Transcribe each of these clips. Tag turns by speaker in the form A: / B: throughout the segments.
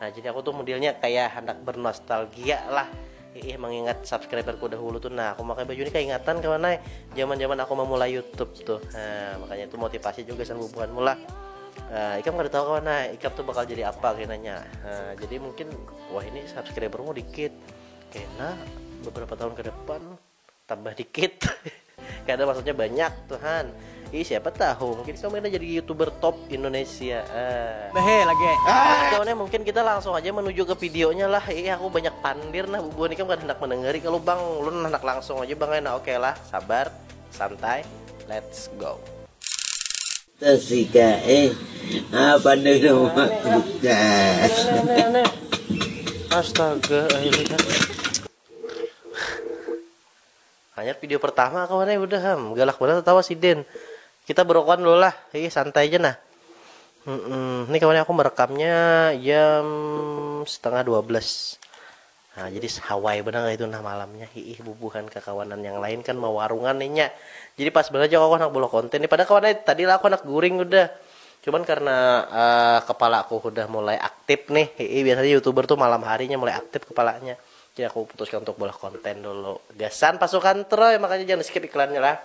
A: Nah, jadi aku tuh modelnya kayak hendak bernostalgia lah. Ih, mengingat subscriberku dahulu tuh. Nah, aku pakai baju ini kayak ingatan kawan naik zaman-zaman aku memulai YouTube tuh. Nah, makanya itu motivasi juga sama bukan mula. Uh, ikam kada tahu kawan nah ikam tuh bakal jadi apa kayak nanya uh, jadi mungkin wah ini subscribermu dikit kena beberapa tahun ke depan tambah dikit karena maksudnya banyak Tuhan Ih siapa tahu mungkin kamu ini jadi youtuber top Indonesia. Eh. Behe
B: lagi. Ah. Kawannya
A: mungkin kita langsung aja menuju ke videonya lah. Ih aku banyak pandir nah bubu ini kan hendak mendengari kalau bang lu hendak langsung aja bang enak oke okay lah sabar santai let's go. Tasika
C: eh apa nih dong
A: Astaga akhirnya Hanyar video pertama kawan eh udah ham. Galak banar tertawa si Den. Kita berokokan dulu lah. Ih santai aja nah. Hmm, hmm. Ini kawan aku merekamnya jam setengah 12. Nah, jadi hawai benar itu nah malamnya. Ih bubuhan kekawanan yang lain kan mau warungan nih Jadi pas benar aja aku anak bola konten. Nih, padahal kawan eh, tadi lah aku anak guring udah. Cuman karena uh, kepala aku udah mulai aktif nih. Ih biasanya youtuber tuh malam harinya mulai aktif kepalanya. Jadi aku putuskan untuk buat konten dulu. Gasan pasukan Troy, makanya jangan di skip iklannya lah.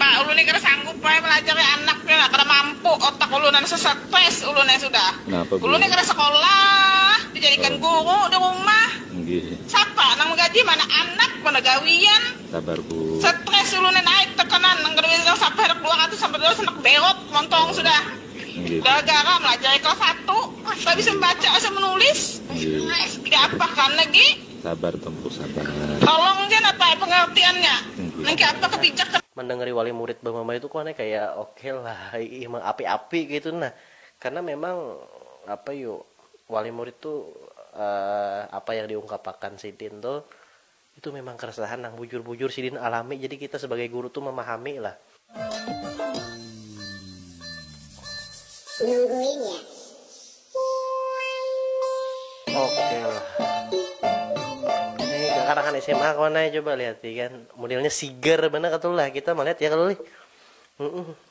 A: Pak
D: ulun ni kada sanggup ai malajari anak ni lah kada mampu otak ulun anasa stress ulun ai sudah ulun ni kada sekolah dijadikan guru di rumah sapa nang magaji mana anak mana gawian
E: stress ulun ni naik
D: tekanan nang kada bisa nang sapa handak dua ratus sampai dua ratus handak beot montong sudah. Gara-gara malajar dari kelas satu, kada bisa membaca asa menulis. Tidak apa kan lagi. Sabar tempu
E: sabar. Tolong ja napa
D: pengertiannya. Nang kaya apa kebijak kada. Mandangari wali murid
A: bamamai tu kuan ai kaya ok lah imang api-api kaitu nah. Karena memang apa yu wali murid tu apa yang diungkapakan sidin tu Itu memang keresahan nang bujur-bujur sidin alami jadi kita sebagai guru tu memahami lah.
C: Nungguin ya.
A: Oke lah. Ini kekanakan SMA kawan coba lihat kan. Modelnya sigar mana katulah kita melihat ya kalau lih. Mm -mm.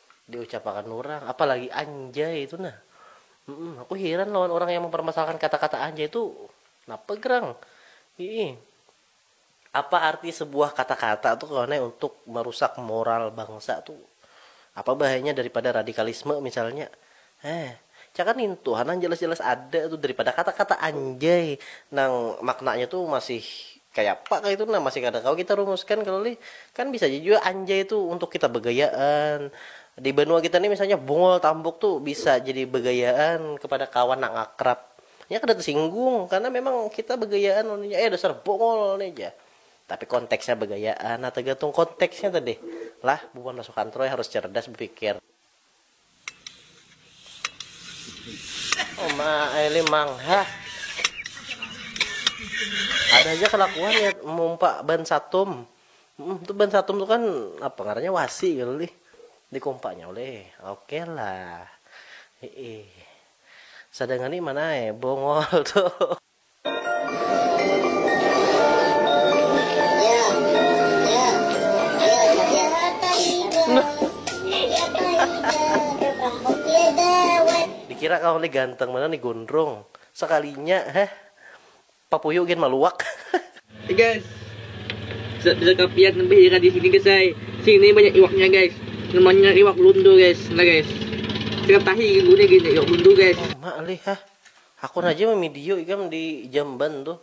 A: diucapakan urang apalagi anjay itu nah mm aku hiran lawan orang yang mempermasalahkan kata-kata anjay itu napa gerang ii apa arti sebuah kata-kata tuh kawan eh untuk merusak moral bangsa tuh apa bahayanya daripada radikalisme misalnya Heh, cakah nintu ha nang jalas-jalas ada tu daripada kata-kata anjay nang maknanya tu masih kayapa kaya itu nah, masih kada kawa kita rumuskan kalo lih. Kan bisa ja jua anjay tu untuk kita bagayaan. Di banua kita ni misalnya bungul tambuk tu bisa jadi bagayaan kepada kawan nang akrab. Inya kada tasinggung karena memang kita bagayaan lawan inya, eh dasar bungul nih jar. Tapi konteksnya bagayaan, nah tagantung konteksnya tadi lah bubuhan masuk kantor harus cerdas bapikir. Oh ma, ini mangha. Ada aja kelakuan ya mumpa ban satum. Hmm, tuh ban satum tuh kan apa ngarannya wasi gitu lih. Dikumpanya oleh. Oke okay lah. Heeh. Sadangani mana eh bongol tuh. Dikira kawa ni ganteng banar ni gondrong, sakalinya heh papuyu gin maluak. Hey
B: guys, bisa bisa kapian lebih ira di sini guys ai, sini banyak iwaknya guys, namanya iwak lundu guys, nah guys, ikan tahi gin iwak lundu guys. Lama lih hah.
A: Hakun haja mamidio ikam di jamban tuh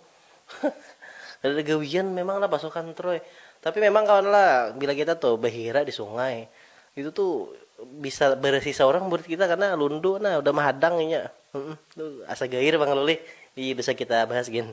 A: kadada gawian memang lah pasukan troy tapi memang kawan lah bila kita tuh bahira di sungai itu tuh bisa barisi saurang burit kita karna lundu nah udah mahadang inya asa gair pang lulih ii bisa kita bahas gin.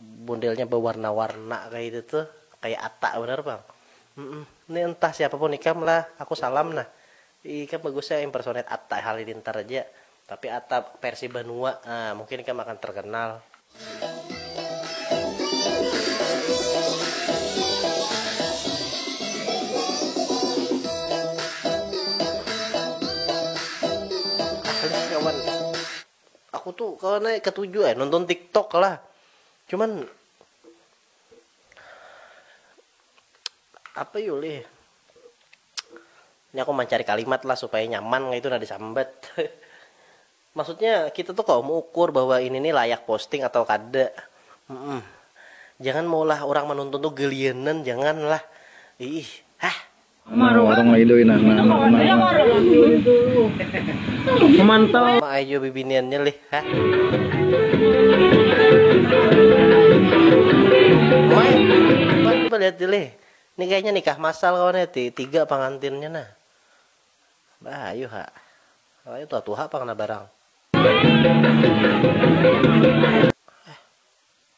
A: Modelnya bewarna-warna kaitu tuh, kaya atta banar pang. Humm, ni entah siapapun ikam lah, aku salam nah. Ih, ikam bagus ja impersonate atta halilintar aja. Tapi atta versi banua, ah mungkin ikam akan terkenal. Asli kawan. Aku tu kawa naik katuju ai nonton tiktok lah cuman apa yu lih ini aku mancari kalimat lah supaya nyaman kaitu nah disambat maksudnya kita tu kawa meukur bahwa ini ni layak posting atau kada mm jangan maulah urang manonton tu gelianan jangan lah iih hah.
E: Sama
B: ai jua
A: bibiniannya lih hah. Mai coba coba lihat di lih. Ni kayaknya nikah masal kawan ya ti tiga pangantinnya nah. Bah ayu ha. Ayu tuha tuha pang nah barang.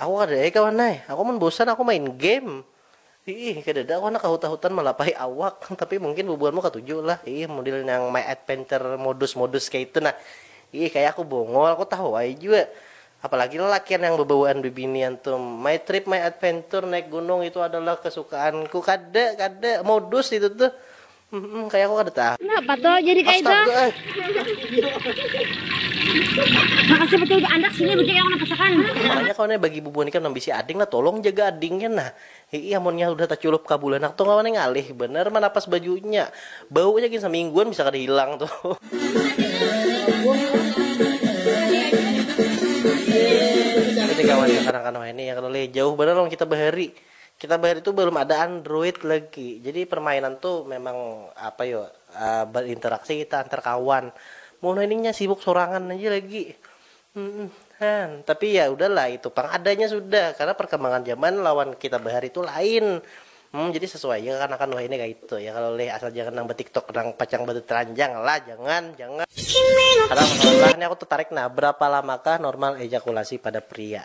A: Aku kada ai kawan ai, aku mun bosan aku main game. Iih, kadada aku handak kahut-ahutan malapahi awak, tapi mungkin bubuhanmu katuju lah, iih model nang my adventure modus-modus kaya itu nah. Iih, kaya aku bongol, aku tahu ai jua. Apalagi lalakian nang babawaan bibinian tu. My trip, my adventure, naik gunung itu adalah kesukaanku. Kada, kada, modus itu tuh. Hmm, kayak aku kada tahu. Kenapa tuh jadi kayak
F: itu? Eh. Makasih betul ke anak sini betul yang napasakan. Makanya kau nih bagi
A: bubuhan ikan nambisi ading lah tolong jaga adingnya nah. Iya amonnya udah taculup kabulanak tuh kawan ngalih bener manapas bajunya. Baunya gin semingguan bisa kada hilang tuh. Ini kawan kanak-kanak ini ya kalau jauh bener lawan kita bahari. Kita bahari tu balum ada android lagi, jadi permainan tu memang apa yo berinteraksi kita antar kawan, mun wahini nya sibuk sorangan aja lagi, hmmm tapi ya udah lah itu pang adanya sudah karena perkembangan zaman lawan kita bahari tu lain, hmmm jadi sesuai ja kekanakan wahini kaitu ya kalo leh, asal jangan nang betiktok nang pacang beteteranjang lah jangan jangan. Kadang kadang lah ni aku tetarik nah, berapa lamakah normal ejakulasi pada pria?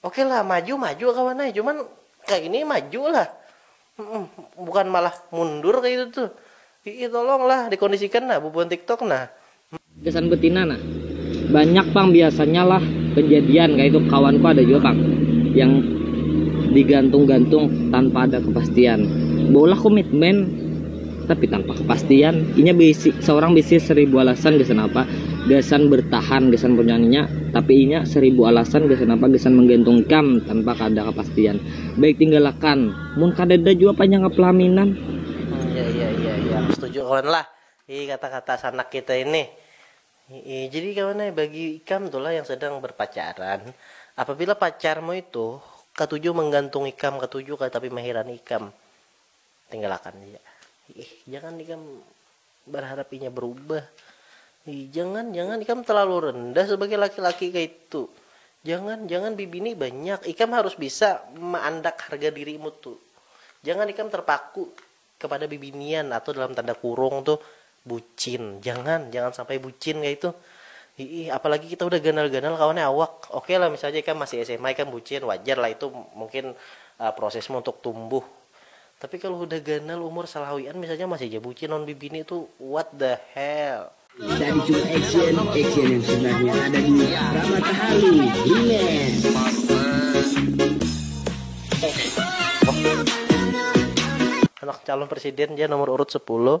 A: Oke lah maju maju kawan ai cuman kaya ini maju lah bukan malah mundur kaya itu tuh iih tolong lah dikondisikan nah bubuhan tiktok nah. Gasan betina
G: nah banyak pang biasanya lah kejadian kaya itu kawan ku ada jua pang yang digantung gantung tanpa ada kepastian beulah komitmen. Tapi tanpa kepastian, inya bisi, seorang bisi seribu alasan gasan apa gasan bertahan gasan punyanya, tapi inya seribu alasan gasan apa gasan menggantung ikam tanpa kada kapastian. Baik tinggal akan, mun kadada jua panya ka pelaminan. Hmm, iya, iya, iya,
A: iya, aku setuju kawan lah, hi kata-kata sanak kita ini. Hi-i, jadi kawan ai, bagi ikam tu lah yang sedang berpacaran, apabila pacarmu itu katuju menggantung ikam, katuju katapi mahiran ikam, tinggalakan ja ih jangan ikam berharap inya berubah ih jangan jangan ikam terlalu rendah sebagai laki-laki kaitu jangan jangan bibini banyak ikam harus bisa maandak harga dirimu tu jangan ikam terpaku kepada bibinian atau dalam tanda kurung tu Bucin, jangan, jangan sampai bucin kaitu, hiih apalagi kita udah ganal-ganal kawan nya awak, oke lah misalnya ikam masih sma ikam bucin wajar lah itu mungkin prosesmu untuk tumbuh, tapi kalo hudah ganal umur salawian misalnya masih ja bucin lawan bibini tu what the hell. Tadi cuma action,
C: action yang sebenarnya ada di Ramatahalu
A: Remix. Anak calon presiden ja nomor urut sepuluh.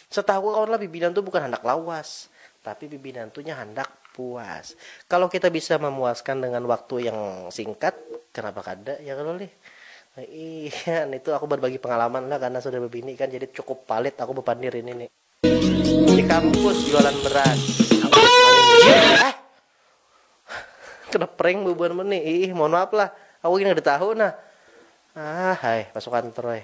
A: Setahuku kawan lah bibinan tu bukan handak lawas, tapi bibinan tu nya handak puas. Kalau kita bisa mamuaskan dengan waktu yang singkat, kenapa kada ya kalo lih. Iya, nitu aku barbagi pengalaman lah karena sudah bebini kan jadi cukup palit aku bepandir ini ni. Di kampus jualan beras. Mainjil ah. Kena prank bubuhan mun ni. Iih, mohon maaf lah. Aku gin kada tahu nah. Ahh ai, masuk kantor ai.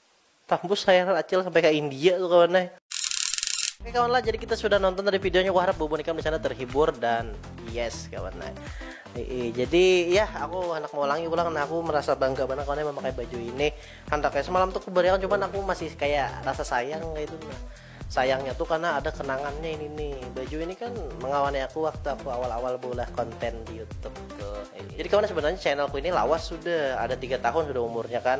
A: Tambus layangan acil sampai ka India tuh kawan ai. Oke kawan lah, jadi kita sudah nonton tadi videonya. Aku harap bubun ikam di sana terhibur dan yes kawan lah. jadi ya aku hendak mengulangi ulang nah aku merasa bangga banget kawan memakai baju ini. Hendaknya semalam tuh aku berikan cuman aku masih kayak rasa sayang kayak itu. Nah, sayangnya tuh karena ada kenangannya ini nih. Baju ini kan mengawani aku waktu aku awal-awal bola konten di YouTube tuh. Jadi kawan sebenarnya channelku ini lawas sudah ada tiga tahun sudah umurnya kan.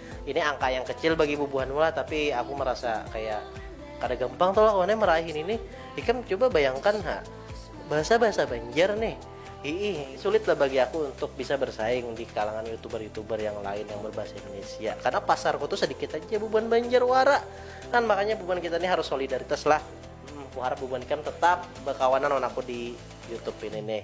A: Ini angka yang kecil bagi bubuhan mula, tapi aku merasa kayak kada gampang tuh lah kawannya meraih ini nih. Ikam coba bayangkan ha, bahasa-bahasa Banjar nih. Ii, sulit lah bagi aku untuk bisa bersaing di kalangan youtuber-youtuber yang lain yang berbahasa Indonesia. Karena pasarku tuh sedikit aja bubuhan Banjar wara. Kan makanya bubuhan kita ini harus solidaritas lah. Hmm, aku harap bubuhan ikam tetap berkawanan dengan aku di YouTube ini nih.